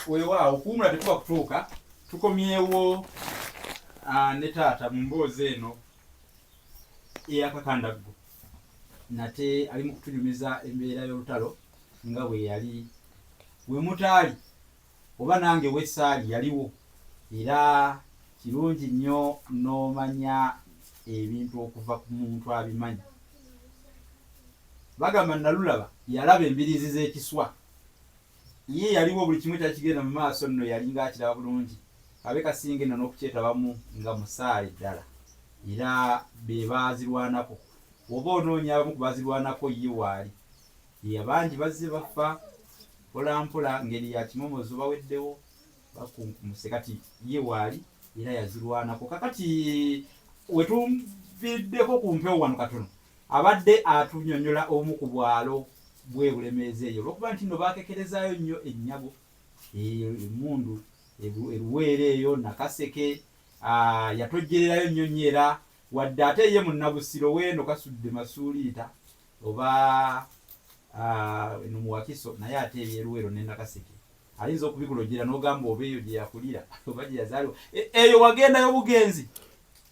weewaawo okuwumula tekuba kutuuka tukomyewo ah, ne taata mu mboozi eno eyakakandaggu nate ali mu kutunyumiza embeera y'olutalo nga bwe yali we mutaali oba nange wesaali yaliwo era kirungi nnyo n'omanya ebintu okuva ku muntu abimanyi bagamba nalulaba yalaba embiriizi z'ekiswa Ye yaliwo buli kimu ekyali kigenda mu maaso nno yalinga akiraba bulungi. Ab'e Kasinge nno n'okukyetabamu nga musaale ddala era be baazirwanako. Bw'oba onoonya abamu ku baazirwanako ye waali. Yee, bangi bazze bafa mpolampola ngeri ya kimomozo, baweddewo, bakunkumuse kati ye waali era yazirwanako. Kaakati we tuviiriddeko ku mpewo wano katono, Abadde atunyonyola obumu ku bwalo bwe Bulemeezi eyo olwokuba nti nno baakekerezaayo nnyo ennyago, emmundu, e Luweero eyo, Nakaseke, yatojjererayo nnyo nnyo era wadde ate ye Munnabusiro w'eno Kasudde Masuuliita oba eno mu Wakiso naye ate eby'e Luweero ne Nakaseke ayinza okubikulojjera n'ogamba oba eyo gye yakulira oba gye yazaalibwa eyo wagendayo bugenzi.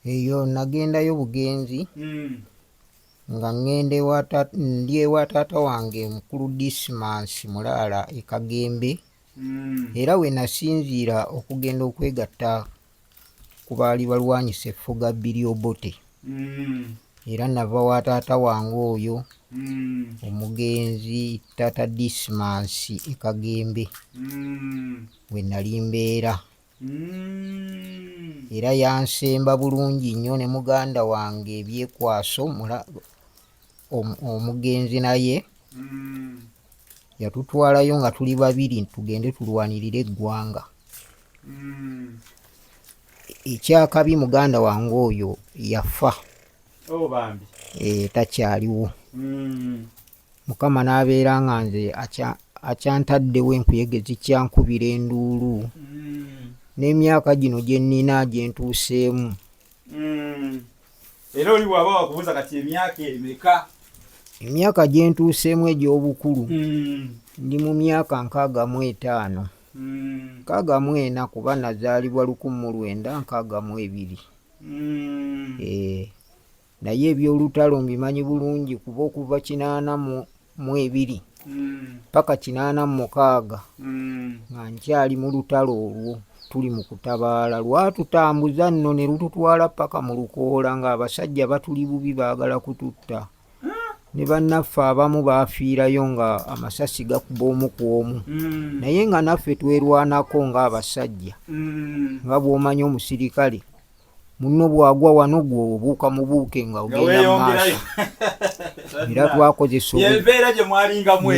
Eyo nagendayo bugenzi nga ŋŋenda ndi ewa taata wange mukulu Disimansi Mulaala e Kagembe era we nasinziira okugenda okwegatta ku baali balwanyisa effuga Billy Obote era nava wa taata wange oyo omugenzi taata Disimansi e Kagembe we nali mbeera. Mm. era yansemba bulungi nnyo ne muganda wange ebyekwaso omugenzi naye mm. yatutwalayo nga tuli babiri tugende tulwanirire eggwanga mm. ekyakabi muganda wange oyo yafa oh, eh, takyaliwo Mukama n'abeera nga nze akyantaddewo enkuyege zikyankubira enduulu hmm. n'emyaka gino gye nnina gye ntuuseemu hmm. era oli bw'aba wakubuuza kati emyaka emeka emyaka gye ntuuseemu egy'obukulu hmm. ndi mu myaka nkaaga mu etaano nkaaga mu ena kuba nazaalibwa lukumu lwenda nkaaga mu ebiri eh. Naye eby'olutalo mbimanyi bulungi kuba okuva kinaana mu ebiri paka kinaana mu mukaaga nga nkyali mu lutalo olwo tuli mu kutabaala lwatutambuza nno ne lututwala paka mu lukoola ng'abasajja batuli bubi baagala kututta ne bannaffe abamu baafiirayo nga amasasi gakuba omu ku omu mm. naye nga naffe twerwanako ng'abasajja mm. nga bw'omanyi omusirikale munno bw'agwa wano gwe obuuka mubuuke nga ogenda maaso era twakozesa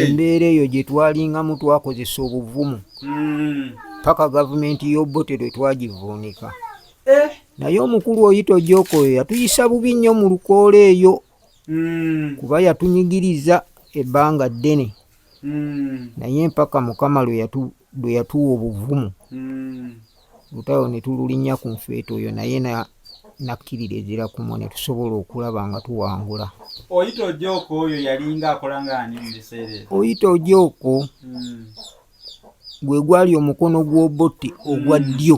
embeera eyo gye twalingamu twakozesa obuvumu hmm. paka gavumenti y'obote lwe twagivuunika eh. naye omukulu oyita ojoko oyo yatuyisa bubi nnyo mu lukoola eyo hmm. kuba yatunyigiriza ebbanga ddene hmm. naye mpaka mukama lwe yatuwa obuvumu lutalo ne tululinnya ku nfeete oyo naye nakkirira ezira kumwe ne tusobola okulaba nga tuwangula. Oyita Ojooko oyo yalinga akola ng'ani mu biseera ebyo? Oyita Ojooko hmm. gwe gwali omukono gw'Obote ogwa hmm. ddyo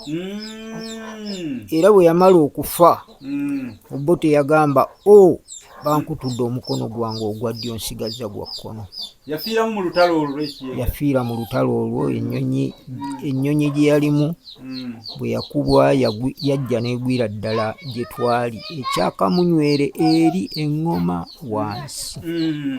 hmm. era bwe yamala okufa Mm. Obote yagamba o oh, bankutudde omukono gwange ogwa ddyo nsigazza gwa kkono. Yafiira mu lutalo olwo ekiyenga. Yafiira mu lutalo olwo ennyonyi mm. ennyonyi gye yalimu mm. bwe yakubwa yajja n'egwira ddala gye twali ekyakamunywere eri eŋŋoma wansi. Mm.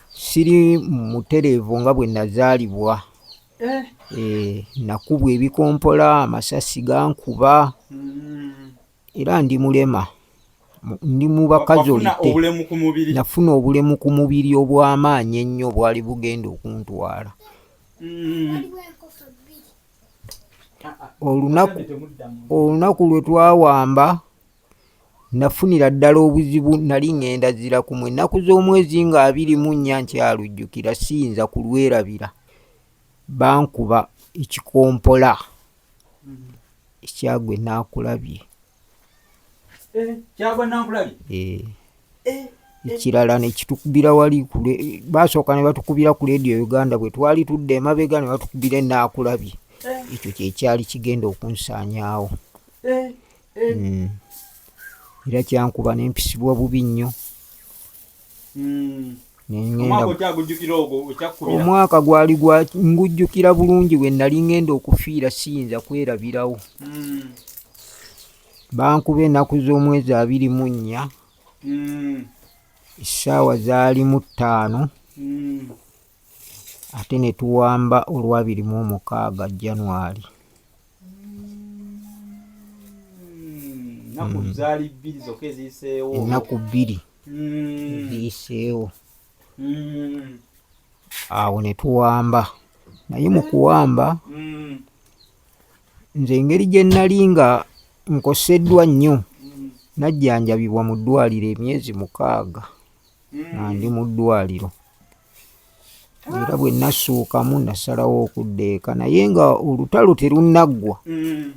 siri mutereevu nga bwe nazaalibwa eh. Eh, nakubwa ebikompola amasasi gankuba hmm. era ndi mulema ndi mu bakazolite nafuna obulemu ku mubiri obw'amaanyi ennyo bwali bugenda okuntwala hmm. olunaku lwe twawamba Nafunira ddala obuzibu nali ŋŋenda zira ku mwe nnaku z'omwezi nga abiri mu nnya nkyalujjukira siyinza kulwerabira. Bankuba ekikompola ekyagwe naakulabye. Eh, kyagwe naakulabye? Ee. Eh. Eh, ekirala nekitukubira wali basooka ne batukubira ku leediyo uganda bwe twali tudde emabega ne batukubira enaakulabye ekyo kyekyali kigenda okunsaanyaawo hmm. era kyankuba nempisibwa bubi nnyo hmm. omwaka gwali gwa ngujjukira bulungi we nali ngenda okufiira siyinza kwerabirawo hmm. bankuba enaku z'omwezi abiri mu nnya essaawa zaali mu ttaano ate ne tuwamba olwabiri mu omukaaga january ennaku hmm. zaali bbiri zokka eziyiseewo ennaku bbiri hmm. ziyiseewo hmm. awo ne tuwamba naye mu kuwamba nze engeri gye nnali nga nkoseddwa nnyo najjanjabibwa mu ddwaliro emyezi mukaaga nga ndi mu ddwaliro era bwe nasookamu nasalawo okudda eka naye nga olutalo terunnaggwa mm.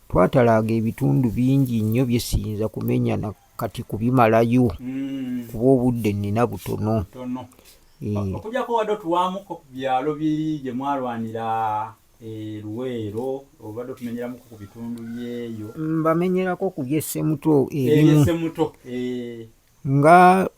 twatalaaga ebitundu bingi nnyo bye siyinza kumenya na kati kubimalayo mm. kuba obudde nnina butono eh. okujako wadde otuwaamuko ku byalo biri gye mwalwanira eh, luweero obadde otumenyeramuko ku bitundu byeyo mbamenyerako ku byesemuto ebimu Nga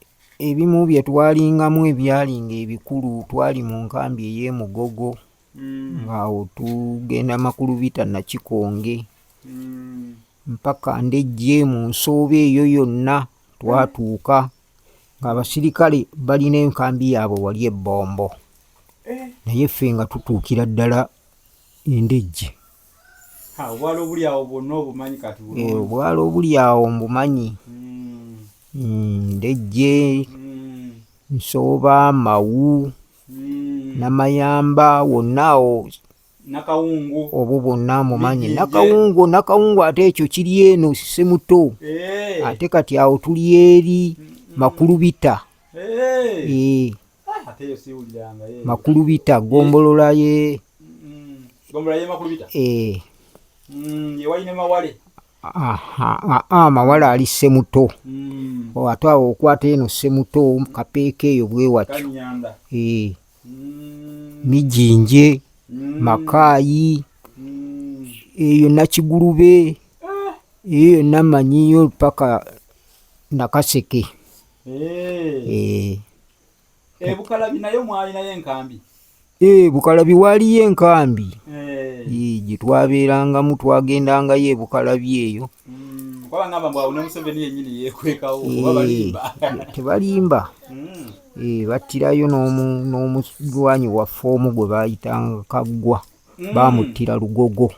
ebimu bye twalingamu ebyalinga ebikulu twali mu nkambi ey'e Mugogo mm. ng'awo tugenda makulubita Nakikonge mm. mpaka ndejje mu nsooba eyo yonna twatuuka ng'abasirikale balina enkambi yaabwe wali ebbombo eh. naye ffe nga tutuukira ddala endejje obwala obuli awo bwonna obumanyi kati eh, obwala obuli awo mbumanyi hmm. hmm, ndejje hmm. nsooba mawu namayamba wonna awo nakawungu obwo bwonna mumanyi nakawungu nakawungu ate ekyo kiri eno simuto eh. ate kati awo tuli eri makulubita eh. makulubita gombolola ye amawale ali semuto mm. oh, ate awo okwata eno semuto kapeeka eyo bwewatyo eh. mm. mijinje mm. makaayi eyo nakigulube ah. eyo yonna manyiyo paka nakaseke Eh. Eh, bukalabi nayo mwalinayo enkambi eh, bukalabi waaliyo enkambi gye twabeerangamu twagendangayo ebukalabi eyo hmm, tebalimba hmm. battirayo n'omulwanyi waffe omu gwe baayitanga kaggwa hmm. baamuttira lugogo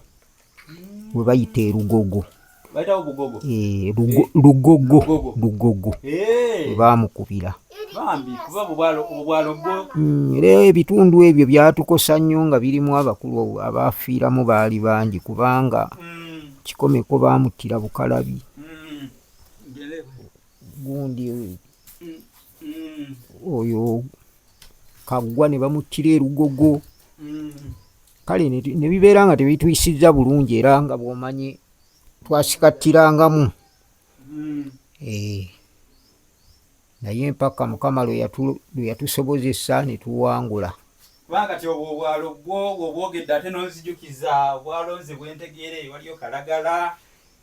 we bayita erugogo eh, lugogo lugogo eh. bamukubira mm, era ebitundu ebyo byatukosa nnyo nga birimu abakulu abaafiiramu baali bangi kubanga mm. kikomeko baamuttira bukalabi gundi oyo kaggwa ne bamuttira erugogo kale ne bibeera nga tebituyisizza bulungi era nga bwomanyi twasikattirangamu hmm. eh. naye mpaka mukama lwe yatusobozesa ne tuwangula kubanga kati obwo obwalo bwo obwogedde ate nonzijukiza obwalo nze bwentegeere waliyo kalagala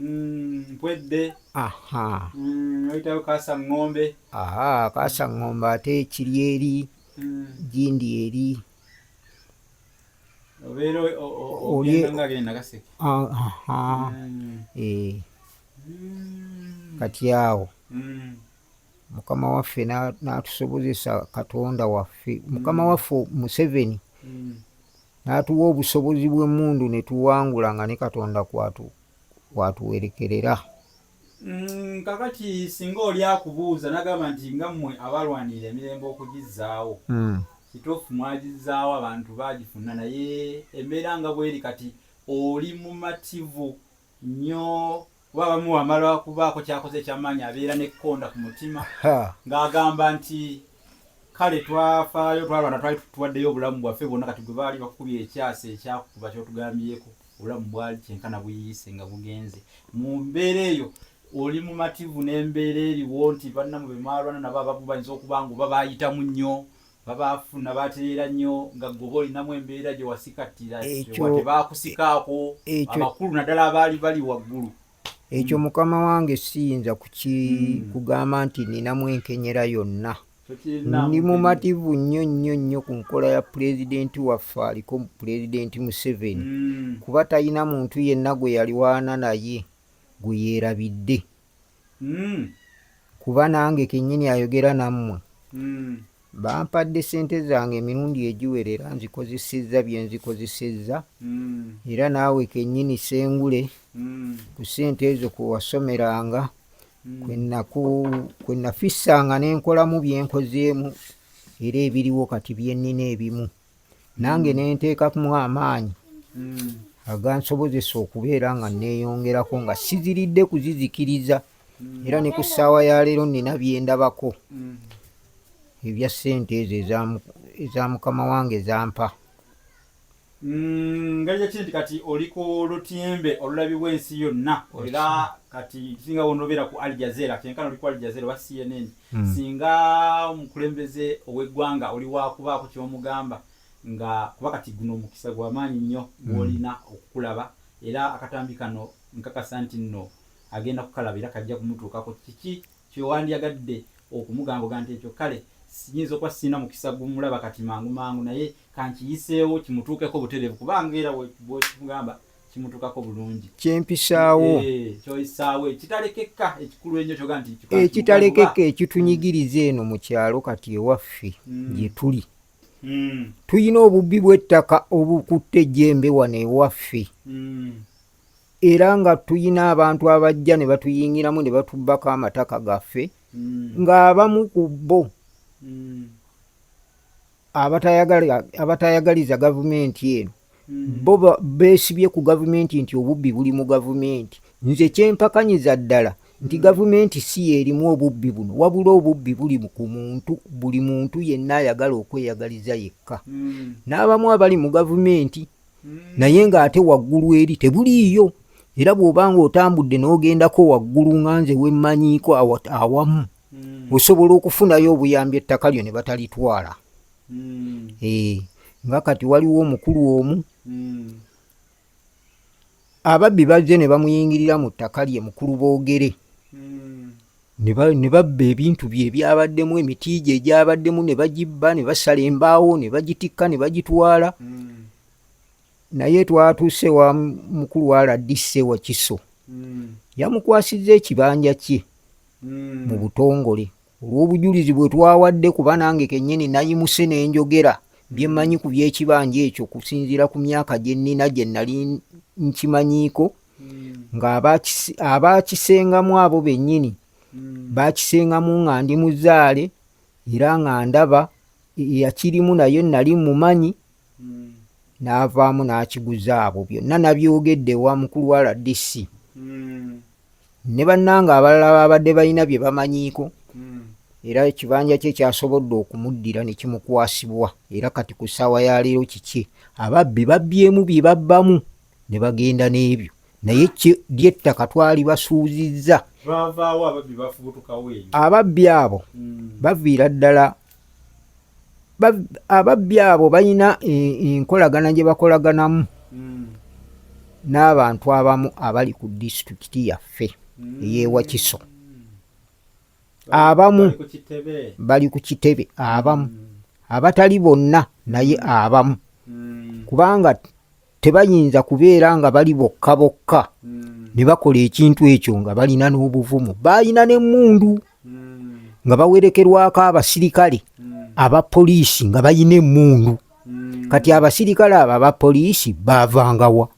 Mm, mpwedde aha mm, oyitawo kasa ng'ombe aha kasa ng'ombe ate ekiri eri mm. gindi eri obeera ogendaagenda kaseke aha mm. eh. mm. kati awo mm. mukama waffe n'atusobozesa katonda waffe mukama mm. waffe museveni mm. N'atuwa obusobozi bw'emmundu ne tuwangula nga ne Katonda kw'atuwerekerera. Mm, kakati singa oli akubuuza nagamba nti nga mmwe abalwanirira emirembe okugizzaawo mm. kituufu mwagizzaawo abantu baagifuna naye embeera nga bweri kati oli mumativu nnyo kuba abamu wamala okubaako kyakoze ekyamaanyi abeera nekkonda ku mutima ng'agamba nti kale twafaayo twalwana twali tuwaddeyo obulamu bwaffe bwonna kati gwe baali bakukubye ekyasa ekyakukuba kyotugambyeko obulamu bwali kyenkana buyiyise nga bugenze mu mbeera eyo oli mumativu n'embeera eriwo nti bannamu be mwalwana nabo abamu bayinza okuba nga oba baayitamu nnyo babaafuna batereera nnyo nga ggoba olinamu embeera gye wasikattira tebaakusikaako abakulu naddala abaali bali waggulu ekyo mukama wange siyinza hmm. kugamba nti ninamu enkenyera yonna ndi mumativu nnyo nnyo nnyo ku nkola ya pulezidenti waffe aliko pulezidenti museveni hmm. kuba talina muntu yenna gwe yalwana naye gwe yeerabidde mm. kuba nange kenyini ayogera nammwe mm. bampadde sente zange emirundi egiwerera nzikozesezza byenzikozesezza mm. era naawe kenyini sengule mm. ku sente ezo kwewasomeranga mm. kwenafissanga nenkolamu byenkozeemu era ebiriwo kati byenina ebimu nange nenteekamu amaanyi hmm. agansobozesa okubeera nga neeyongerako nga siziridde kuzizikiriza hmm. era ne ku ssaawa ya leero nina byendabako hmm. ebya ssente ezo eza mukama wange zampa Mm, ngeri yakiri nti kati oli ku lutimbe olulabibwa ensi yonna era kati kisinga wonobeera ku aljazera kyenkana oli ku aljazera oba cnn mm. singa omukulembeze ow'eggwanga oli wakubaako ky'omugamba nga kuba kati guno omukisa gwamaanyi nnyo mm. gwolina okukulaba era akatambi kano nkakasa nti nno agenda kukalaba era kajja kumutuukako kiki kyewandyagadde okumugamboga nti ekyo kale siyinza okuba sirina mukisa gumulaba kati mangu mangu naye kankiyiseewo kimutuukeko butereevu kubanga era bwekimugamba kimutukako bulungi kyempisaawo eh, kyoyisaawo ekitalekeka ekikulu enyo kyoga nti ekitalekeka ekitunyigiriza eno mu kyalo kati ewaffe hmm. gyetuli hmm. tulina obubbi bw'ettaka obukutte ejjembe wano ewaffe hmm. era nga tulina abantu abajja ne batuyingiramu ne batubbako amataka gaffe ng'abamu ku bo abatayagaliza gavumenti eno bo beesibye ku gavumenti nti obubbi buli mu gavumenti nze kyempakanyiza ddala nti gavumenti si yeerimu obubbi buno wabula obubbi buli ku muntu buli muntu yenna ayagala okweyagaliza yekka hmm. n'abamu abali mu gavumenti hmm. naye ng'ate waggulu eri tebuliiyo era bw'oba ng'otambudde n'ogendako waggulu nga nze wemmanyiiko awamu hmm. osobola okufunayo obuyambi ettaka lyo ne batalitwala mm. eh, nga kati waliwo omukulu omu mm. ababbi bazze ne bamuyingirira mu ttaka lye mukulu boogere mm. ne babba ebintu bye ebyabaddemu emiti gye egyabaddemu ne bagibba ne basala embaawo ne bagitikka ne bagitwala mm. naye twatuuse wa mukulu wa rdc wakiso mm. yamukwasizza ekibanja kye mm. mu butongole Olw'obujulizi bwe twawadde kuba nange kennyini nayimuse ne njogera bye mmanyi ku by'ekibanja ekyo okusinziira ku myaka gye nnina gye nnali nkimanyiiko ng'abaakisengamu abo bennyini baakisengamu nga ndi muzaale era nga ndaba eyakirimu naye nnali mmumanyi mm. n'avaamu n'akiguza abo byonna nabyogedde ewa mukulu wa rdc mm. ne bannanga abalala babadde balina bye bamanyiiko mm. era ekibanja kye kyasobodde okumuddira ne kimukwasibwa era kati ku ssaawa ya leero kiki ababbi babbyemu bye babbamu ne bagenda n'ebyo naye lyettaka twali basuuzizza ababbi abo hmm. baviira ddala ababbi abo balina enkolagana gye bakolaganamu hmm. n'abantu abamu abali ku disitulikiti yaffe hmm. eyewakiso abamu bali ku kitebe abamu hmm. abatali bonna naye abamu kubanga tebayinza kubeera nga bali bokka bokka hmm. ne bakola ekintu ekyo nga balina n'obuvumu baalina n'emmundu hmm. nga bawerekerwako abasirikale hmm. aba poliisi nga balina emmundu kati abasirikale abo aba poliisi baavangawa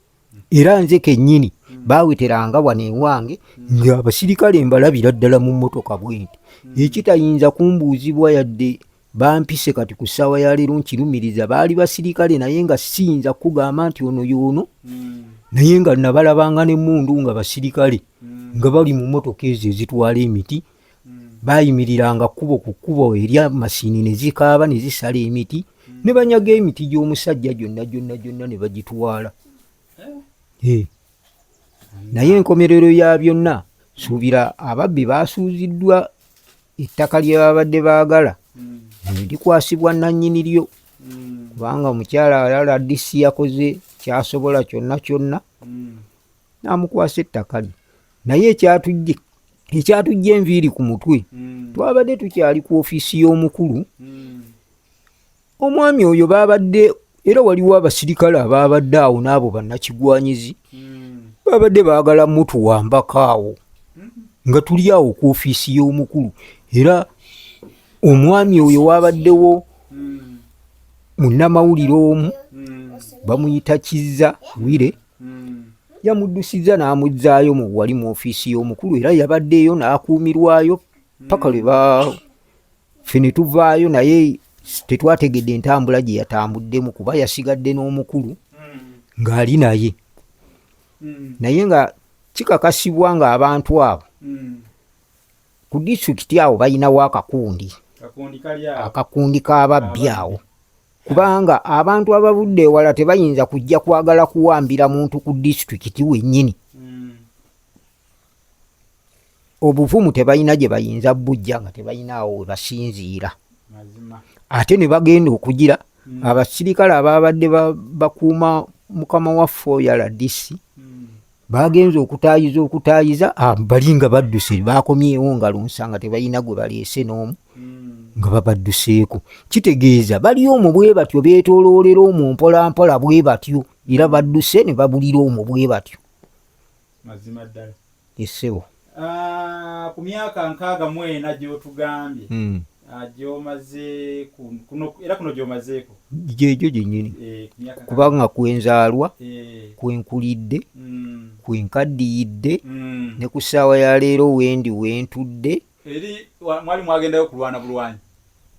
era nze kennyini baaweteranga wano ewange ng'abasirikale mbalabira ddala mu mmotoka bwenti ekitayinza kumbuuzibwa yadde Bampise kati ku ssaawa ya leero nkirumiriza baali basirikale naye nga siyinza kukugamba nti ono yoono hmm. naye nga nabalabanga n'emmundu nga basirikale hmm. nga bali mu mmotoka ezo ezitwala emiti hmm. bayimiriranga kkubo ku kkubo erya masini ne zikaaba ne zisala emiti ne banyaga emiti gy'omusajja gyonna gyonna gyonna ne bagitwala eh? Eh. naye enkomerero ya byonna suubira ababbi baasuuziddwa ettaka lye babadde baagala hmm. likwasibwa nannyini lyo hmm. kubanga omukyala alala disi yakoze kyasobola kyonna kyonna hmm. namukwasa ettaka lye naye ekyatujje ekyatujja enviiri ku mutwe twabadde tukyali ku ofiisi y'omukulu omwami oyo baabadde era waliwo abasirikale abaabadde awo n'abo bannakigwanyizi baabadde baagala mutuwambako awo nga tuli awo ku ofiisi y'omukulu era omwami oyo waabaddewo munnamawulire omu bamuyita kizza wire yamuddusiza n'amuzzaayo mu wali mu ofiisi y'omukulu era yabaddeeyo n'akuumirwayo paka lwe baawo ffe ne tuvaayo naye tetwategedde entambula gye yatambuddemu kuba yasigadde n'omukulu ng'ali naye hmm. naye nga kikakasibwa ng'abantu abo hmm. ku disitulikiti awo balinawo akakundi akakundi k'ababbi awo kubanga abantu abavudde ewala tebayinza kujja kwagala kuwambira muntu ku disitulikiti wennyini obuvumu tebalina gye bayinza bujja nga tebalinaawo we basinziira ate ne bagenda okugira hmm. abasirikale abaabadde bakuuma mukama waffe oyo aladisi hmm. baagenza okutaayiza okutaayiza ah, bali nga badduse baakomyewo nga lunsa nga tebalina gwe baleese n'omu hmm. nga babadduseeko kitegeeza bali omwo bwe batyo beetooloolera omwo mpolampola bwe batyo era badduse ne babulira omwo bwe batyo mazima ddala essebo ah, ku myaka nkaaga mu ena gy'otugambye hmm. ah, gyomaze era kuno gyomazeeko gyegyo gyenyini eh, kubanga kwenzaalwa eh. kwenkulidde hmm. kwenkaddiyidde hmm. ne ku ssaawa ya leero wendi wentudde eri mwali mwagendayo kulwana bulwanyi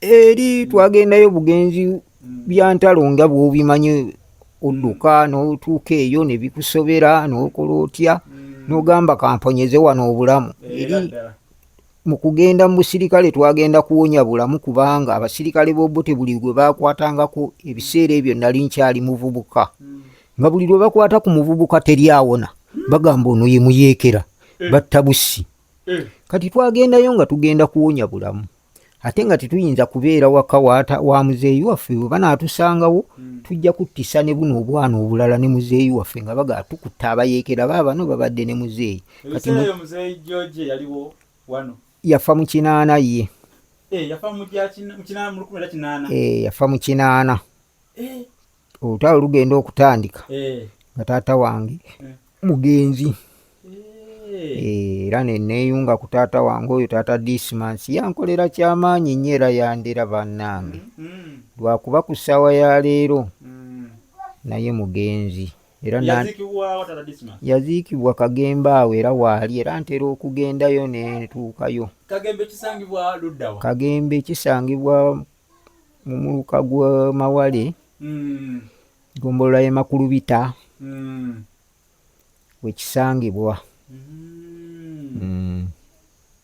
eri twagendayo bugenzi hmm. byantalo nga bwobimanyi odduka hmm. notuuka eyo nebikusobera nokola otya hmm. nogamba kamponyeze wano obulamu eh, eri mukugenda mubusirikale twagenda kuwonya bulamu kubanga abasirikale bobote buli gwe bakwatangako ebiseera ebyo nali nkyali muvubuka nga buli lwe bakwata ku muvubuka teri awona bagamba ono yemuyekera eh. battabusi mm. kati twagendayo nga tugenda kuwonya bulamu ate nga tetuyinza kubeera waka wa muzeeyi waffe we banaatusangawo mm. tujja kuttisa ne buno obwana obulala ne muzeeyi waffe nga baga tukutta abayeekera baabano babadde ne muzeeyi yafa mu kinaana ye eh, yafa mu kinaana eh, eh. olutalo lugenda okutandika eh. nga taata wange eh. mugenzi eh. era neneyunga ku taata wange oyo taata dismans yankolera kyamaanyi nyo era yandera banange mm, mm. lwakuba ku ssaawa ya leero mm. naye mugenzi era yaziikibwa kagembe awo era waali era ntera okugendayo netuukayo kagembe kisangibwa mu muluka gwa mawale mm. gombolola ye makulubita mm. wekisangibwa mm. mm.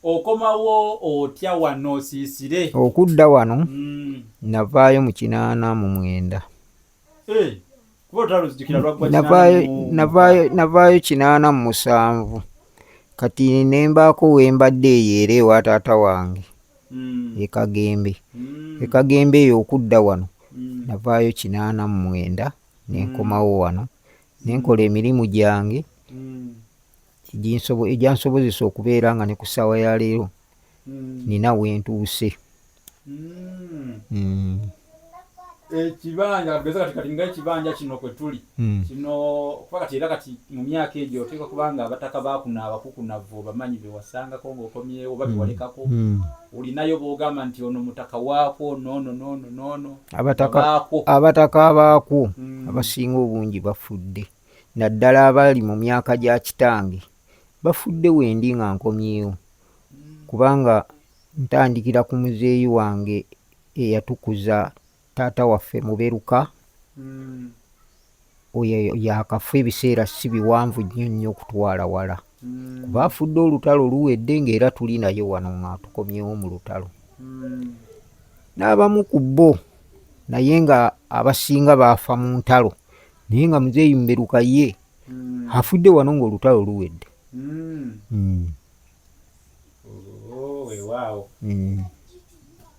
okomawo otya wano osiisire okudda wano mm. navaayo mu kinaana mu mwenda hey. Eh. navaayo kinaana mu musanvu kati nembaako wembadde eyo era ewa taata wange hmm. ekagembe hmm. ekagembe eyo okudda wano hmm. navaayo kinaana mu mwenda nenkomawo wano nenkola emirimu gyange egyansobozesa okubeera nga ne ku ssaawa ya leero nina wentuuse hmm. ekibanja katugeza kati kati nga ekibanja kino kwe tuli hmm. kino kuba kati era kati mu myaka egyo oteeka kubanga abataka bakuna abakukunavu bamanyi bewasangako ngaokomyewo oba bewalekako hmm. hmm. olinayo bogamba nti ono mutaka waakwo nono nono nono abataka abaakwo abasinga obungi bafudde naddala abali mu myaka gya kitange bafudde wendi nga nkomyewo kubanga ntandikira ku muzeeyi wange eyatukuza taata waffe muberuka oyo yakafa ebiseera si biwanvu nnyo nnyo okutwala wala kuba afudde olutalo luwedde ngaera tuli naye wano nga tukomyewo mu lutalo n'abamu ku bo naye nga abasinga baafa mu ntalo naye nga muzeeyi muberuka ye mm. afudde wano ng'olutalo luwedde mm. mm. oh, wewaawo mm.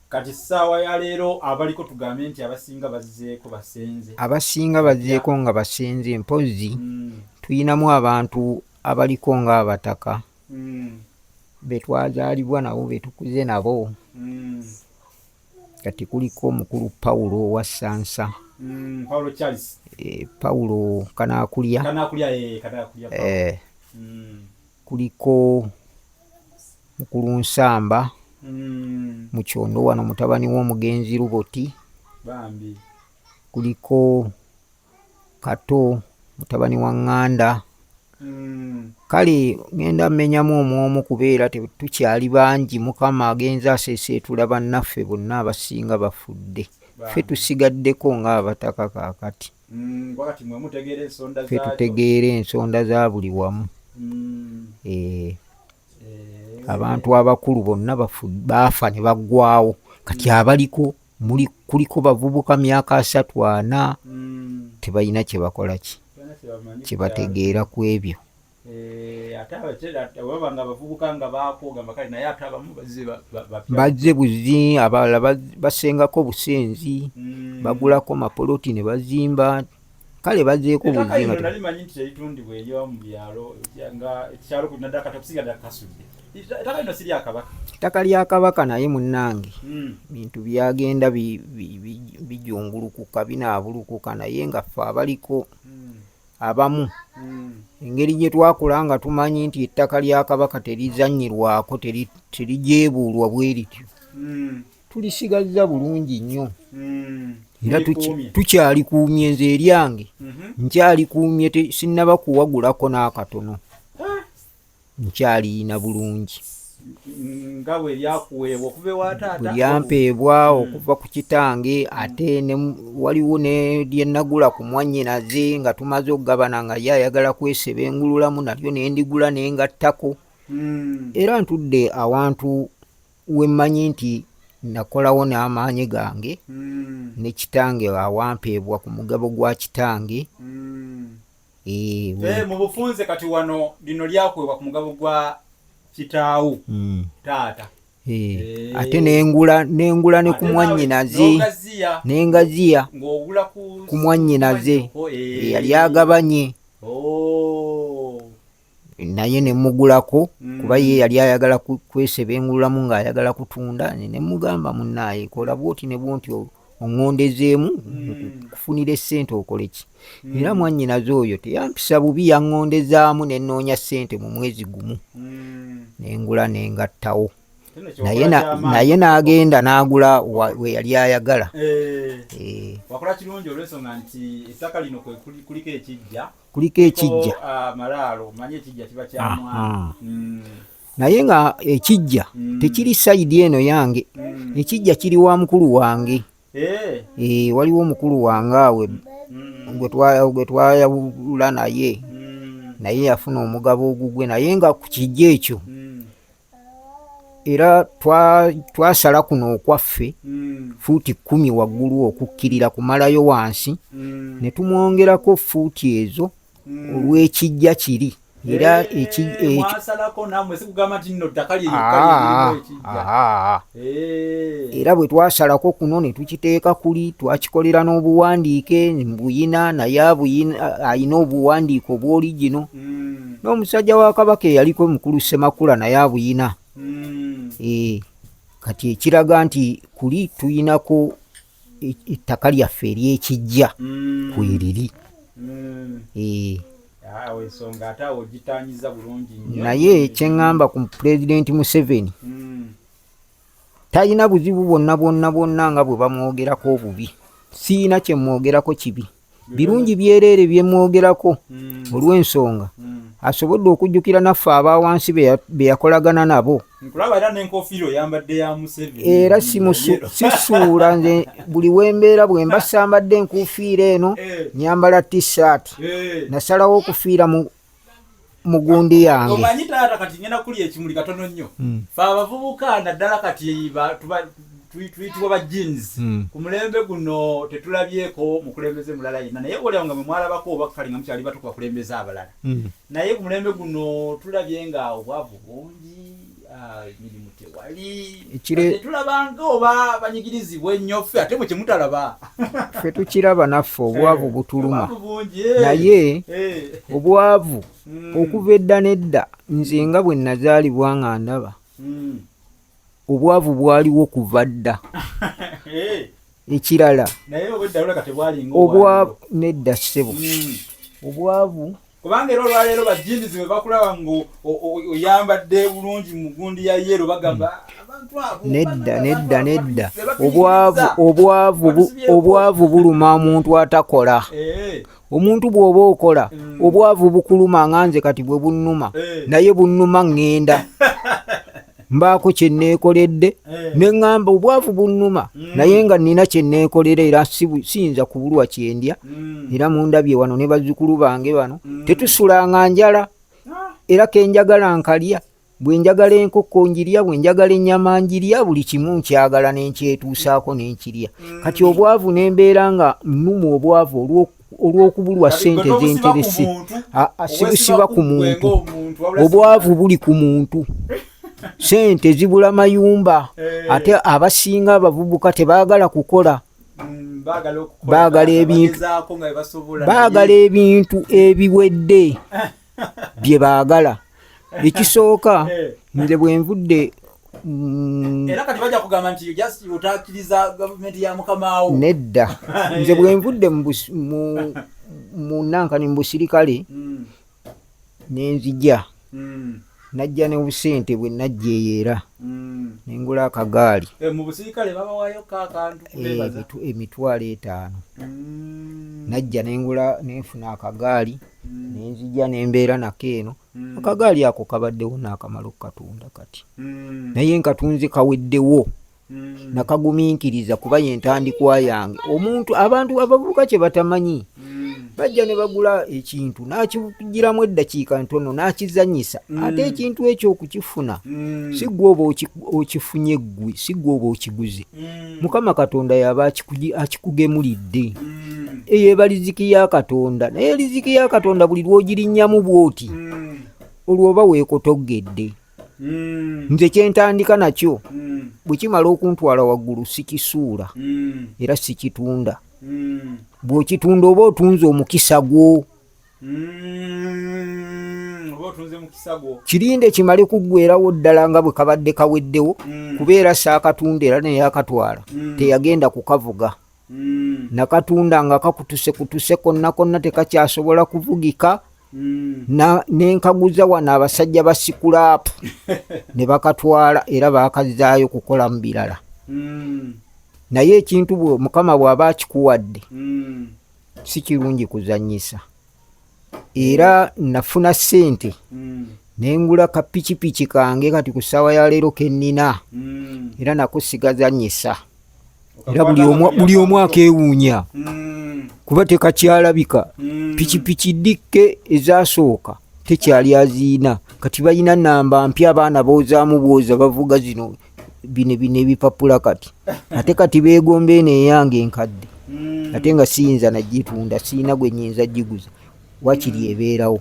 kati saawa ya leero abaliko tugambe nti abasinga bazeeko basenze abasinga bazeeko nga basenze mpozzi mm. tuyinamu abantu abaliko ng'abataka mm. betwazaalibwa nabo betukuze nabo mm. kati kuliko omukulu pawulo owa sansa mm, pawulo eh, kanakulya eh, eh, mm. kuliko mukulu nsamba mm. mu kyondo wano mutabani w'omugenzi luboti kuliko kato mutabani wa ŋŋanda hmm. kale ŋenda mmenyamu omwomu kubeera tukyali bangi mukama agenza aseeseetula bannaffe bonna abasinga bafudde ffe tusigaddeko ng'abataka kaakati hmm, ffe tutegeera ensonda za buli wamu hmm. eh. Eh. abantu abakulu bonna baafa ne baggwawo kati abaliko muli kuliko bavubuka myaka asatu ana mm. tebalina kyebakola ki kyebategeera ku ebyo eh, bazze buzi abalala basengako busenzi mm. bagulako mapoloti ne bazimba kale bajeeko bulimanyi nti teritundibwa eyo mu byalo nga ekyalo kunadda kati okusigadda kasudde ettaka lino si lyakabaka ettaka lya kabaka naye munnange hmm. bintu byagenda bijungulukuka binaabulukuka naye nga ffe abaliko hmm. abamu hmm. engeri gye twakula nga tumanyi nti ettaka lya kabaka terizanyirwako terijeebuulwa bwe lityo tulisigazza bulungi nnyo hmm. era tukyalikuumye nze eryange mhm. nkyalikuumye sinnaba kuwagulako n'akatono ah. nkyaliyina bulungi nga bwe lyakuweebwa okuva ewa taata lyampeebwa hmm. okuva ku kitange ate waliwo ne lye nagula ku mwannyinaze nga tumaze okugabana nga ye ayagala kweseba engululamu nalyo ne ndigula ne ngattako hmm. era ntudde awantu wemmanyi nti nakolawo n'amaanyi gange mm. ne kitange awampeebwa ku mugabo gwa kitange mm. e, we... e, mu bufunze kati wano lino lyakuweebwa ku mugabo gwa kitaawo mm. taata Eh, ate nengula nengula ne kumwanyinaze nengaziya kumwanyinaze eh. yali agabanye oh. naye nemugulako mm. kuba ye yali ayagala kwesebengululamu ng'ayagala kutunda nemugamba munaaye kola bwoti ne bwonti oŋŋondezeemu mm. kufunira essente okoleki mm. era mwannyinaze oyo teyampisa bubi yaŋŋondezaamu ne nnoonya ssente mu mwezi gumu nengula nengattawo naye n'agenda n'agula we yali ayagala eh. Eh. wakola kirungi olwensonga nti ettaka lino kuliko ekijja kuliko ekijja mm. naye nga ekijja mm. tekiri sayidi eno yange mm. ekijja kiri wa mukulu wange eh. Eh, waliwo omukulu wange awe gwe twayawula naye naye yafuna omugabo ogugwe naye nga ku kijja ekyo era twasala twa kuno okwaffe mm. fuuti kumi waggulu okukkirira kumalayo wansi mm. ne tumwongerako fuuti ezo mm. olw'ekijja kiri era eh, ekijja ekyo mwasalako namwe sikugamba nti nno ttaka lyeyo kali ah, ah, ah, era bwe twasalako kuno ne tukiteeka kuli twakikolera n'obuwandiike buyina naye alina obuwandiike obwoligino hmm. n'omusajja wa kabaka eyaliko mukulu semakula naye abuyina hmm. eh, kati ekiraga nti kuli tuyinako ettaka lyaffe eryekijja mm. kweriri mm. eh. ah, naye kyeŋŋamba ku pulezidenti museveni mm. talina buzibu bwonna bwonna bwonna nga bwe bamwogerako obubi siina kyemwogerako kibi mm. birungi byereere bye mwogerako mm. olw'ensonga mm. asobodde okujjukira naffe aba wansi be yakolagana nabo era sisuula nze buli wembeera bwe mba sambadde enkuufiira eno eh. nyambala t-shirt eh. nasalawo okufiira mu mugundi yange omanyi taata kati ngenda kulya ekimuli katono nnyo hmm. fe abavubuka naddala kati tuyitibwa ba jeans hmm. ku mulembe guno tetulabyeko mukulembeze mulala yenna naye olaba nga mwemwalabako oba kale nga mukyali batukubakulembeza abalala hmm. naye ku mulembe guno tulabye nga obwavu bungi tulabanga oba banyigirizibwa ennyo ffe ate mwe kyemutalaba ffe tukiraba naffe obwavu eh, butuluma eh. naye eh. obwavu hmm. okuva edda n'edda nze nga bwe nazaalibwa nga ndaba hmm. obwavu bwaliwo kuva dda ekirala obwavu nedda kisebo hmm. obwavu kubanga era olwaleero bajindizi bwe bakulaba nga oyambadde bulungi mu gundi ya yeero bagamba hmm. nedda nedda nedda obwavu obwavu obwavu buluma omuntu atakola eh. omuntu bw'oba okola hmm. obwavu bukuluma nga nze kati bwe bunnuma eh. naye bunnuma ŋŋenda mbaako kye neekoledde eh. ne ŋŋamba obwavu bunnuma mm. naye nga nnina kye neekolera era siyinza kubulwa kyendya mm. era mundabye wano ne bazzukulu bange bano mm. tetusulanga njala ah. era kenjagala nkalya bwe njagala enkoko njirya bwe njagala ennyama njirya buli kimu nkyagala nenkyetuusaako nenkirya kati obwavu nembeera nga nnuma obwavu olw'oku olw'okubulwa sente zenteresi sibusiba ku muntu obwavu buli ku muntu sente zibula mayumba eh. ate abasinga abavubuka tebagala kukola mm, bagala ebintu bagala ebintu ebiwedde bye baagala ekisooka eh. nze bwe nvudde mm, era kati bajja kugamba nti just otakiriza gavumenti ya mukamaawo nedda nze bwe nvudde mu nankani mu busirikale hmm. ne nzija hmm. najja ne busente bwe najja eyo era hmm. ne ngula akagaali eh, eh, emitwalo etaano najja ne ngula nenfuna akagaali mm. nenzija nembeera nako eno mm. akagaali ako kabaddewo naakamala okukatunda kati mm. naye nkatunze kaweddewo mm. nakaguminkiriza kuba yentandikwa yange omuntu abantu abavubuka kye batamanyi mm. bajja ne bagula ekintu nakigiramu eddakiika ntono nakizanyisa mm. ate ekintu ekyo okukifuna mm. sigwe oba okifunye ggwe sigwe oba okiguze mm. mukama katonda yaba akikugemulidde eyo eba liziki ya katonda naye liziki ya katonda buli lwogirinnyamu bwoti olwo oba weekotogedde Mm. nze kyentandika nakyo mm. bwe kimala okuntwala waggulu sikisuula mm. era sikitunda bw'okitunda oba otunze omukisa gwo Mm, kirinde kimale kuggwerawo ddala nga bwe kabadde kaweddewo mm. kubeera saakatunda era neyakatwala mm. teyagenda kukavuga nakatunda nga kakutuse kutuse konna konna tekakyasobola kuvugika Mm. nenkaguza wano abasajja ba sikulaapu ne bakatwala era bakazaayo kukola mu birala mm. naye ekintu mukama bw'aba akikuwadde mm. si kirungi kuzanyisa era nafuna sente mm. nengula ka pikipiki kange kati ku ssaawa ya leero kennina mm. era nako sigazanyisa era buli omu akewuunya mm. kuba tekakyalabika mm. pikipiki dikke ezasooka tekyali aziina kati balina namba mpya abaana boozaamu bwoza bavuga zino mm. bino bino ebipapula kati ate kati begomba eno eyange enkadde mm. ate nga siyinza nagitunda siyina gwe nyinza giguza wakiri mm. ebeerawo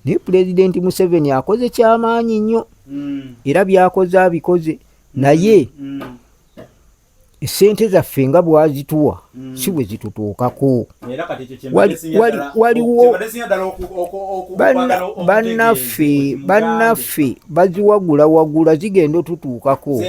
naye pulezidenti museveni akoze kyamaanyi nnyo mm. era byakoze abikoze naye esente zaffe nga bwazituwa Mm. si bwe zitutuukako waliwo bannaffe bannaffe baziwagulawagula zigenda otutuukako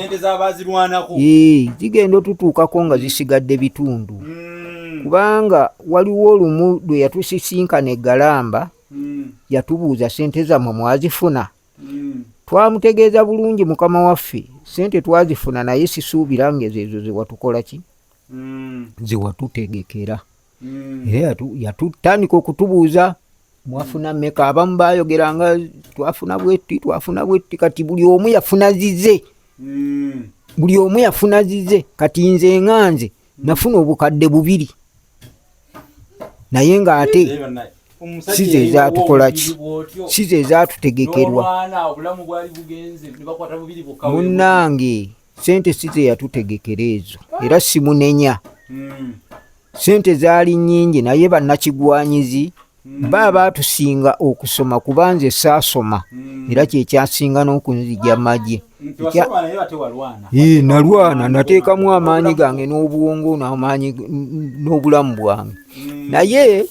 zigenda otutuukako nga zisigadde bitundu mm. kubanga waliwo olumu lwe yatusisinkana egalamba mm. yatubuuza sente zammwe mwazifuna twamutegeeza bulungi mukama waffe sente twazifuna naye sisuubira ngezeezo zewatukola ki mm. ze watutegekera mm. era yatutandika okutubuuza mwafuna meka abamu bayogera nga twafuna bwetti twafuna bwetti kati buli omu yafuna zize mm. buli omu yafuna zize kati nze nga nze nafuna obukadde bubiri naye ng'ate sizo ezatukolaki sizo ezatutegekerwa munange sente si ze yatutegekera ezo era simunenya hmm. sente zaali nyingi naye bannakigwanyizi hmm. ba baatusinga okusoma kuba nze saasoma hmm. era kyekyasinga n'okunzija magye nalwana nateekamu amaanyi gange n'obwongo namaanyi n'obulamu bwange naye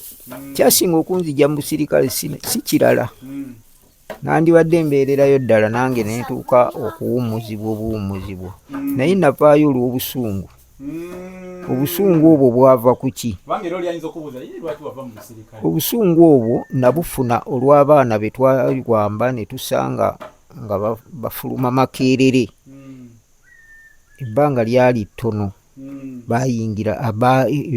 kyasinga okunzija mu busirikale si kirala nandibadde mbeererayo ddala nange nentuuka okuwummuzibwa obuwummuzibwa mm. naye navaayo olw'obusungu mm. obusungu obwo bwava ku ki obusungu obwo nabufuna olw'abaana be twawamba ne tusanga nga bafuluma makeerere mm. ebbanga lyali ttono hmm. bayingira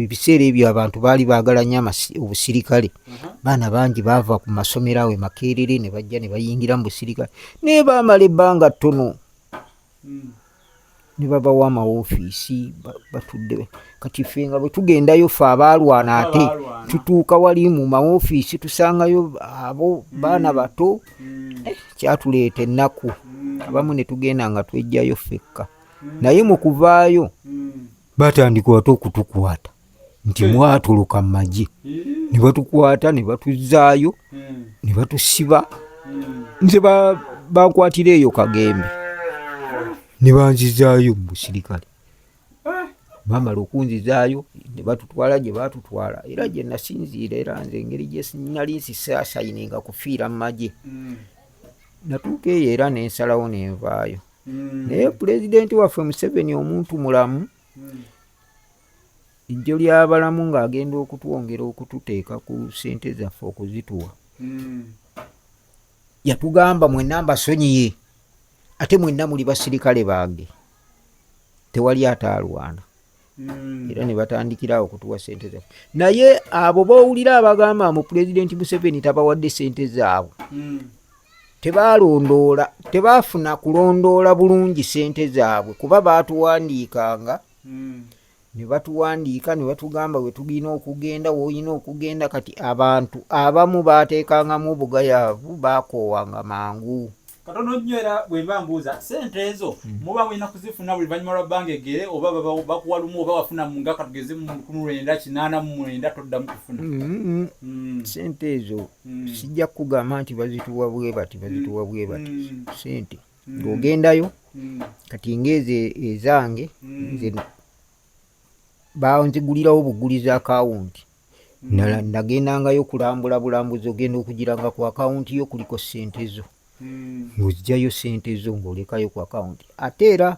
ebiseera ebyo abantu baali baagala nyo obusirikale uh-huh. baana bangi baava ku masomero awo emakeerere ne bajja ne bayingira mu busirikale naye baamala ebbanga ttono hmm. ne babawa amawofiisi batudde kati ffe nga bwe tugendayo ffe abaalwana ate tutuuka wali mu mawofiisi tusangayo abo baana hmm. bato hmm. eh, kyatuleeta ennaku hmm. abamu ne tugenda nga twejjayo ffekka hmm. naye mu kuvaayo batandika ate okutukwata nti mwatuluka mu magye ne batukwata ne batuzaayo ne batusiba nze bakwatira eyo kagembe ne banzizaayo mu busirikale bamala okunzizaayo ne batutwala gye baatutwala era gye nasinziira era nze engeri gye nali nsisaasayininga kufiira mu magye mm. natuuka eyo era ne nsalawo ne nvaayo mm. naye pulezidenti waffe museveni omuntu mulamu mm. ejjo ly'abalamu ng'agenda okutwongera okututeeka ku ssente zaffe okuzituwa yatugamba mwenna mbasonyiye ate mwenna muli basirikale bange tewali ataalwana hmm. era ne batandikirawo okutuwa sente zaffe naye abo bowulira abagamba mu pulezidenti museveni tabawadde sente zaabwe hmm. tebalondoola tebaafuna kulondoola bulungi sente zaabwe kuba baatuwandiikanga hmm. ne batuwandiika ne batugamba we tulina okugenda woolina okugenda kati abantu abamu baateekangamu obugayaavu baakoowanga mangu katono nnyo era bwe mba mbuuza sente ezo hmm. muba mulina kuzifuna buli luvannyuma lwa bbanga egere oba bakuwa lumu oba wafuna nga katugeze mu lukumi lwenda kinaana mu mwenda toddamu kufuna hmm, hmm. sente ezo sijja kukugamba nti bazituwa bwe bati bazituwa bwe bati sente ng'ogendayo mm. kati ngaezo ezange mm. nze banzigulirawo buguliza akawunti mm. nagendangayo kulambula bulambuzi ogenda okugiranga ku akawunti yo kuliko sente zo ng'ozijjayo sente zo ng'olekayo ku akawunti ate era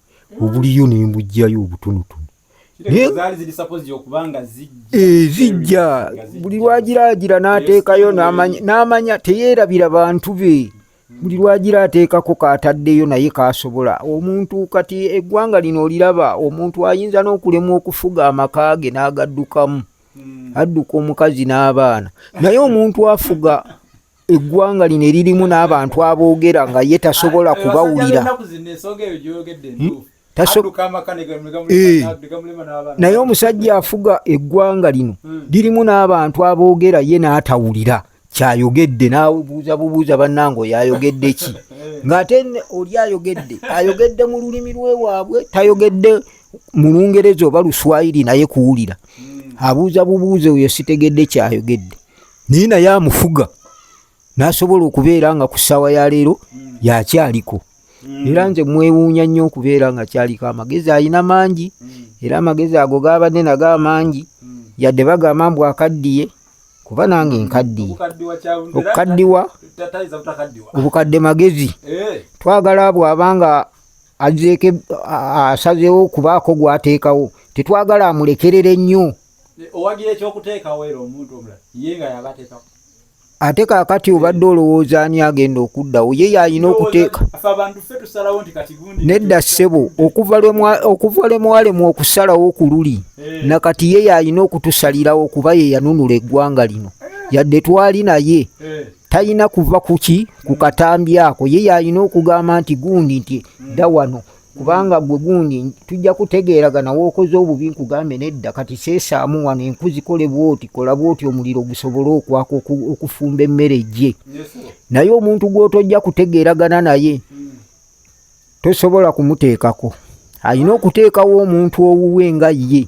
obuliyo ne mbujjayo obutonotono ezijja buli lwagiraagira n'ateekayo n'amanya teyeerabira bantu be buli lwagira ateekako kaataddeyo naye kaasobola omuntu kati eggwanga lino oliraba omuntu ayinza n'okulemwa okufuga amaka ge n'agaddukamu hmm. adduka omukazi n'abaana naye omuntu afuga eggwanga lino eririmu n'abantu aboogera nga ye tasobola kubawulira eh. naye omusajja afuga eggwanga lino hmm. lirimu n'abantu aboogera ye n'atawulira kyayogedde nabuuza bubuuza bannange oyo ayogedde ki eh. ng'ate oli ayogedde ayogedde mu lulimi lwe waabwe tayogedde mu lungereza oba luswayiri naye kuwulira hmm. abuuza bubuuza oyo sitegedde kyayogedde naye naye amufuga n'asobola okubeera nga ku ssaawa ya leero hmm. yakyaliko hmm. era nze mwewuunya nnyo okubeera nga kyaliko amagezi alina mangi hmm. era amagezi ago gaabadde nago amangi yadde bagamba mbu akaddiye kuba nange nkaddiye okukaddiwa obukadde magezi eh. twagala bw'aba nga azeeko asazeewo okubaako gw'ateekawo tetwagala amulekerere nnyo owagira ekyokuteekawo era omuntu omulala ye nga yabateekawo ate kakati obadde olowooza ani agenda okuddawo ye yalina okuteeka nedda ssebo okuva lwe mwalemu okusalawo ku luli eh. nakati ye yalina okutusalirawo kuba ye yanunula eggwanga lino eh. yadde twali naye eh. talina kuva kuki ku katambi ako ye yalina okugamba nti gundi nti dda wano kubanga gwe gundi tujja kutegeeragana wookoze obubi nkugambe nedda kati seesaamu wano enku zikole bwoti kola bwoti omuliro gusobole okwaka okufumba emmere gye naye omuntu gwotojja kutegeeragana naye tosobola kumuteekako alina okuteekawo omuntu owuwe nga ye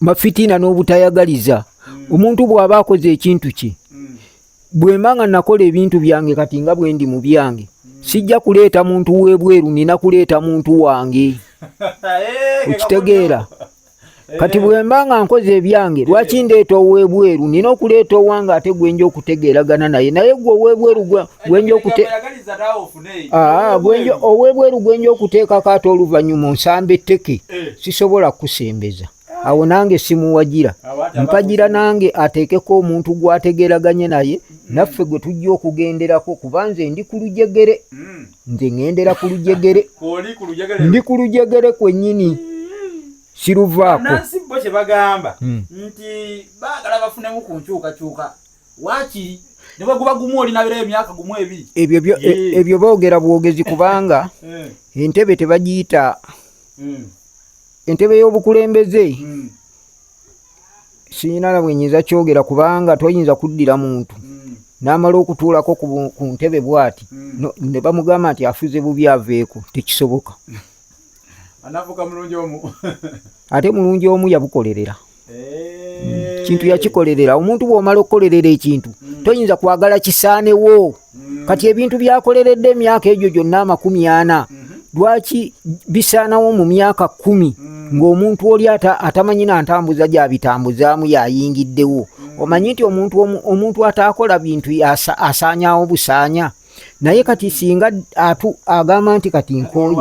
mafitina n'obutayagaliza hmm. omuntu bw'aba akoze ekintu kye hmm. bwemba nga nakola ebintu byange kati nga bwendi mu byange hmm. sijja kuleeta muntu w'ebweru nina kuleeta muntu wange eh, okitegeera eh. kati bwemba nga nkoze ebyange lwaki eh. ndeeta ow'ebweru nina okuleeta owange ate gwenja okutegeeragana naye naye gwe ow'ebweru gwenja okute Ah, ah, owebweru gwenja okuteekako ate oluvannyuma onsamba etteke eh. sisobola kukusembeza ah. awo nange simuwagira mpagira nange ateekeko omuntu gwategeraganye naye mm. naffe gwe tujja okugenderako kuba nze ndi ku lujegere mm. nze ŋendera ku lujegere ndi ku lujegere kwennyini siruvaako nansi bo kye bagamba hmm. nti baagala bafunemu ku nkyukakyuka Waakiri ne bwe guba gumu olinabeerayo emyaka gumu ebiri. E, ebyo boogera bwogezi kubanga eh. entebe tebagiyita hmm. entebe y'obukulembeze hmm. siyina na bwe nyinza kyogera kubanga toyinza kuddira muntu hmm. n'amala okutuulako ku ntebe bw'ati ne bamugamba nti afuze bubi aveeko tekisoboka. anafuka mulungi omu ate mulungi omu yabukolerera eh. kintu yakikolerera omuntu bwomala okukolerera ekintu hmm. toyinza kwagala kisaanewo hmm. kati ebintu byakoleredde emyaka egyo gyonna amakumi ana hmm. lwaki bisaanawo mu myaka kumi ng'omuntu oli atamanyi na ntambuza gyabitambuzaamu yayingiddewo omanyi nti omuntu ataakola bintu asaanyawo busaanya naye kati singa atu agamba nti kati nkooye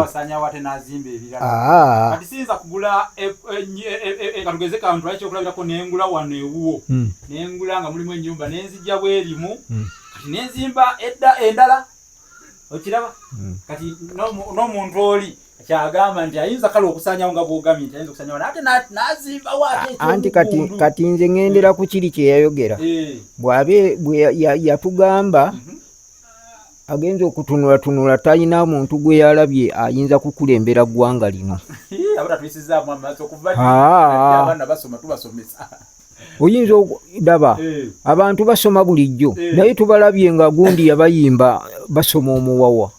katugeze kantu ali kyokulabirako nengula wano ewuwo hmm. nengula nga mulimu enyumba nenzijja bwerimu hmm. kati nenzimba edda endala okiraba hmm. kati n'omuntu oli kyagamba nti ayinza kale okusanyawo nga bwogamye nti ayinza okusanyawo ate nazimbawo anti kati kati nze ŋendera ku kiri kye yayogera eh. bwabe bwe yatugamba mhm. agenza okutunulatunula talina muntu gwe yalabye ayinza kukulembera ggwanga lino oyinza okudaba eh. abantu basoma bulijjo eh. naye tubalabye nga gundi yabayimba basoma omuwawa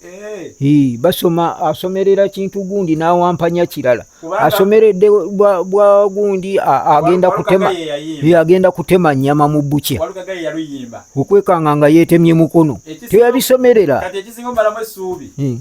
eh. basoma asomerera kintu gundi nawampanya kirala asomeredde bwa gundi agenda kutema agenda kutema nyama mu bukya okwekanga nga yetemye mukono teyabisomerera hmm.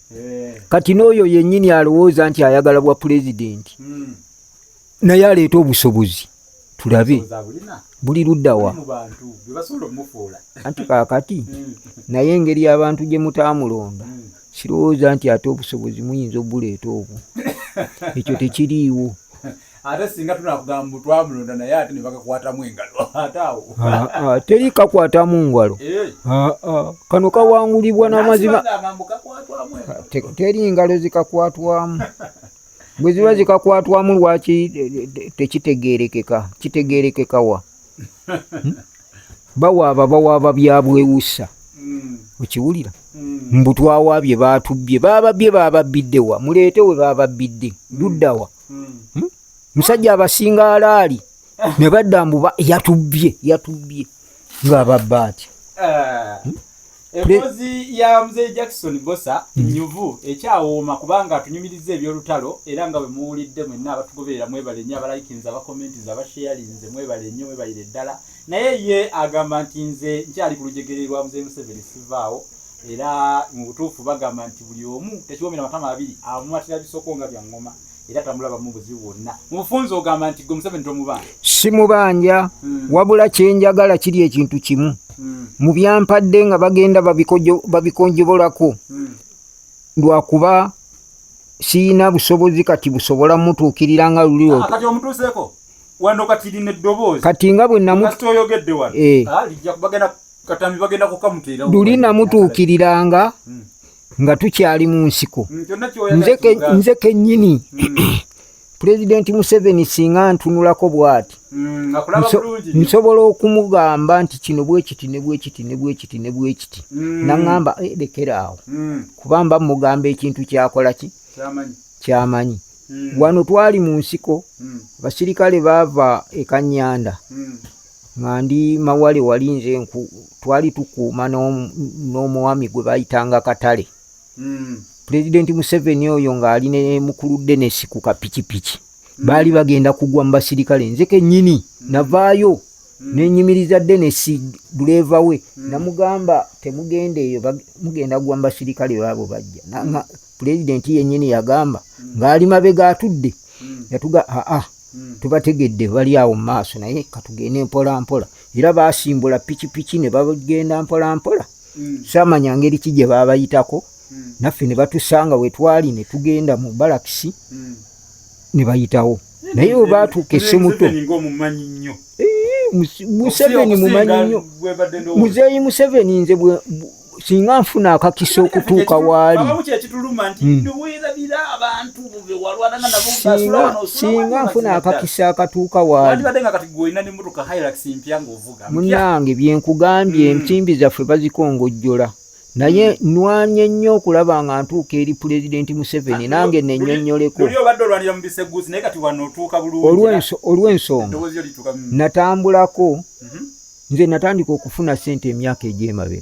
eh. kati n'oyo yennyini alowooza nti ayagala bwa pulezidenti hmm. naye aleeta obusobozi tulabe buli luddawa anti kakati hmm. naye engeri abantu gye mutaamulonda hmm. sirowooza nti ate obusobozi muyinza obuleeta obwo ekyo tekiriiwo ate singa tunakugamba mbu twamulonda naye ate ne bakakwatamu engalo ate awo ah, ah, teri kakwatamu ngalo eh. ah, kano kawangulibwa n'amazima teri ngalo zikakwatwamu bwe ziba eh. zikakwatwamu lwaki tekitegeerekeka kitegeerekeka wa hmm? bawaaba bawaaba byabwewusa hmm. okiwulira hmm. mbu twawaabye baatubbye bababbye bababbidde wa muleete we bababbidde luddawa hmm? musajja abasinga alaali ne badda mbuba yatubbye yatubbye ng'ababba atya eh, hmm? embozi ya mzee jackson bosa hmm. nyuvu ekyawooma kubanga atunyumiriza ebyolutalo era nga bwe muwulidde mwenna abatugoberera mwebale nnyo abalayikinza abakommenti za basheyalinze mwebale nnyo mwebalire ddala mm. naye ye agamba nti nze nkyali ku lujegere lwa mzee museveni sivaawo era mu butuufu bagamba nti buli omu tekiwomera matama abiri amumatira bisoko nga bya ngoma era tamulabamu buzibu bwonna mubufunzi ogamba nti gwe museveni tomubanja simubanja hmm. wabula kyenjagala kiri ekintu kimu hmm. mu byampadde nga bagenda babikonjobolako hmm. lwakuba siyina busobozi kati busobola mutuukirira nga luli ah, wano kati lino eddoboozi kati nga bwe namukati oyogedde wano eh. ah, lijja bagenda katambi bagenda kukamutera luli namutuukiriranga hmm. nga tukyali mu nsiko hmm, nze kennyini hmm. pulezidenti museveni singa ntunulako bwati nsobola okumugamba nti kino bwekiti ne bwekiti ne bwekiti ne bwekiti naŋamba eh, lekera awo kuba mba mugamba ekintu kyakola ki kyamanyi Hmm. Wano twali mu nsiko, hmm. abasirikale baava e Kanyanda hmm. nga ndi mawale wali nze nku twali tukuuma n'omwami gwe bayitanga Katale. Pulezidenti Museveni oyo ng'ali ne mukulu Denesi ku kapikipiki baali bagenda kugwa mu basirikale nze kennyini navaayo. Hmm. nenyimiriza denesi duleeva we hmm. namugamba temugenda eyo mugenda gwa mubasirikale baabo bajja hmm. Pulezidenti yennyini yagamba hmm. ng'ali mabega atudde hmm. yatuga aa hmm. tubategedde bali awo mu maaso naye katugende mpola mpola era baasimbula pikipiki ne bagenda mpola mpola saamanya ngeri ki gye baabayitako naffe ne batusanga we twali ne tugenda mu balakisi ne bayitawo naye we baatuuka essemuto museveni mumanyi nnyo muzeeyi museveni nze singa nfuna akakisa okutuuka waali hmm. singa nfuna akakisa akatuuka waalimunange byenkugambye hmm. ensimbi zaffe bazikongojjola naye hmm. nwanye nnyo okulaba nga ntuuka eri pulezidenti museveni nange nenyonyoleko olw'ensonga natambulako mhm. nze natandika okufuna sente emyaka egyemabega